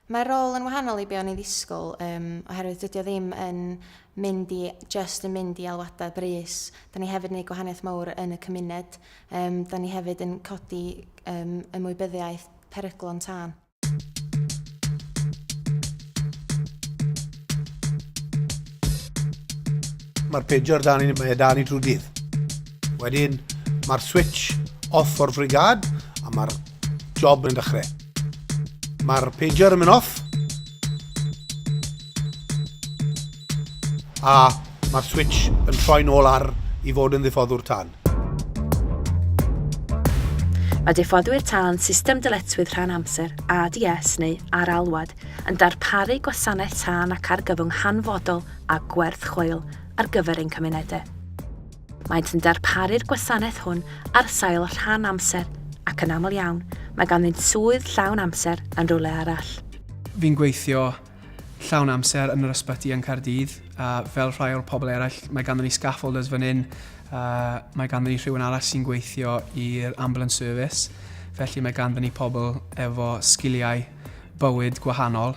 Mae'r rôl yn wahanol i be o'n i'n ddisgwyl um, oherwydd dydy o ddim yn mynd i, just yn mynd i alwadau brys. Da ni hefyd yn gwneud gwahaniaeth mawr yn y cymuned. Um, da ni hefyd yn codi um, ymwybyddiaeth peryglon tân. Mae'r pejor dan ni, mae dan ni trwy dydd. Wedyn, mae'r switch off o'r frigad, a mae'r Job yn dechrau. Mae'r pager yn mynd off. A mae'r switch yn troi'n ôl ar i fod yn ddiffoddwr tân. Mae diffoddwyr tân system dyletswydd rhan amser, ADS neu ar alwad, yn darparu gwasanaeth tân ac argyfwng hanfodol a gwerth chweil ar gyfer ein cymunedau. Maent yn darparu'r gwasanaeth hwn ar sail rhan amser ac yn aml iawn mae ganddynt swydd llawn amser yn rhywle arall. Fi'n gweithio llawn amser yn yr ysbyty yn Caerdydd a fel rhai o'r pobl eraill mae ganddyn ni scaffolders fan hyn a mae ganddyn ni rhywun arall sy'n gweithio i'r ambulance service felly mae ganddyn ni pobl efo sgiliau bywyd gwahanol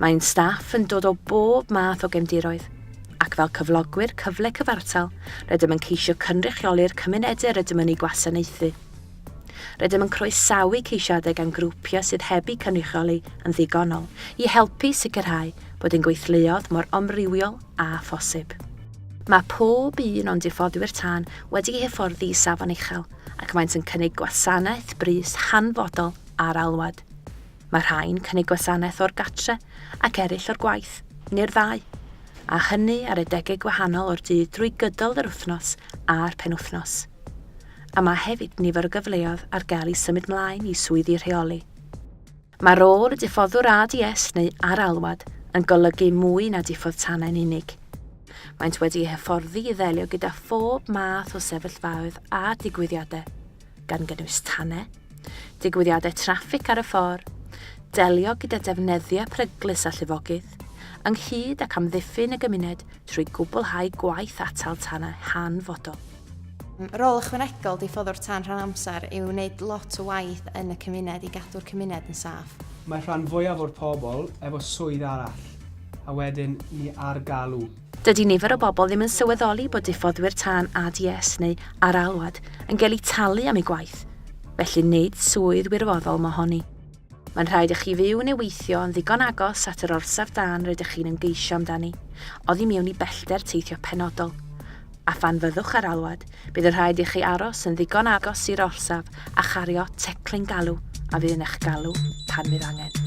Mae ein staff yn dod o bob math o gefndiroedd, ac fel cyflogwyr cyfle cyfartal, rydym yn ceisio cynrychioli'r cymunedau rydym yn eu gwasanaethu. Rydym yn croesawu ceisiadau gan grwpiau sydd heb eu cynrychioli yn ddigonol i helpu sicrhau bod ein gweithleoedd mor amrywiol â phosib. Mae pob un o'n diffoddwyr tân wedi'u hyfforddi i safon uchel ac maent yn cynnig gwasanaeth brys hanfodol ar alwad. Mae rhai'n cynnig gwasanaeth o'r gartre ac eraill o'r gwaith, neu'r ddau, a hynny ar adegau gwahanol o'r dydd drwy gydol yr wythnos a'r penwythnos. A mae hefyd nifer o gyfleoedd ar gael i symud mlaen i swyddi rheoli. Mae rôl y diffoddwr ADS neu ar-alwad yn golygu mwy na diffodd tanau'n unig. Maent wedi eu hyfforddi i ddelio gyda phob math o sefyllfaoedd a digwyddiadau, gan gynnwys tanau, digwyddiadau traffig ar y ffordd, delio gyda defnyddiau peryglus a llifogydd, ynghyd ac amddiffyn y gymuned trwy gwblhau gwaith atal tanau hanfodol. Rôl ychwanegol diffoddwr tân rhan amser yw wneud lot o waith yn y cymuned i gadw'r cymuned yn saff. Mae'r rhan fwyaf o'r pobl efo swydd arall, a wedyn ni ar galw. Dydy nifer o bobl ddim yn sylweddoli bod diffoddwyr tân ADS neu ar alwad yn cael eu talu am eu gwaith, felly nid swydd wirfoddol mohoni. Mae'n rhaid i chi fyw neu weithio yn ddigon agos at yr orsaf dân rydych chi'n ymgeisio amdani, oddi mewn i bellter teithio penodol. a phan fyddwch ar alwad, bydd yn rhaid i chi aros yn ddigon agos i'r orsaf a chario teclyn galw a fydd yn eich galw pan fydd angen.